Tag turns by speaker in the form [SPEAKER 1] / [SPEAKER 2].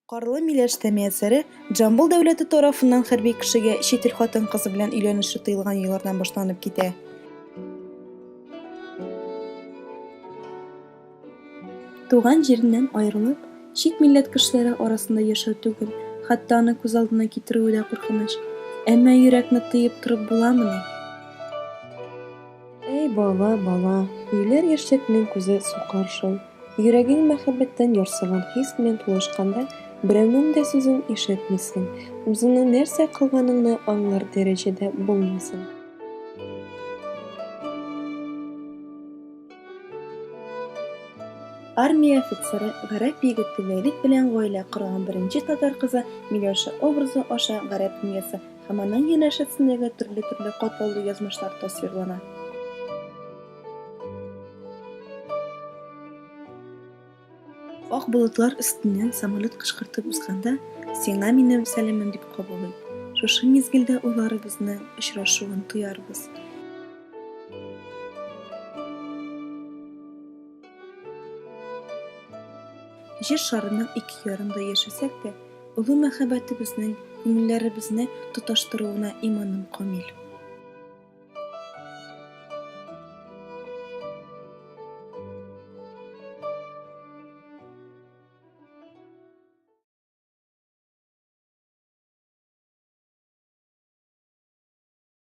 [SPEAKER 1] Карлы миләш тәмиясәре Джамбул дәүләте тарафыннан хәрби кешегә чит ил хатын-кызы белән өйләнеше тыелган еллардан башланып китә. Туган җиреннән аерылып, чит милләт кешеләре арасында яшәү түгел, хәтта аны күз алдына китерүе дә куркыныч. Әмма йөрәкне тыеп торып буламыни? Әй бала, бала, юләр яшьлекнең күзе сукар шул. Йөрәгең мәхәббәттән ярсыган хис белән тулышканда, берәүнең дә сүзен ишетмисең, үзеңнең нәрсә кылганыңны аңлар дәрәҗәдә булмыйсың. Армия офицеры, гарәп егете Вәлит белән гаилә корган беренче татар кызы Миләүшә образы аша гарәп дөньясы һәм аның янәшәсендәге төрле-төрле катлаулы язмышлар тасвирлана. Ак болытлар өстеннән самолет кышкыртып узганда, сиңа минем сәламем дип кабул ит. Шушы мизгелдә уйларыбызны, очрашуын тоярбыз. Җир шарының ике ярында яшәсәк тә, олы мәхәббәтебезнең күңелләребезне тоташтыруына иманым камил.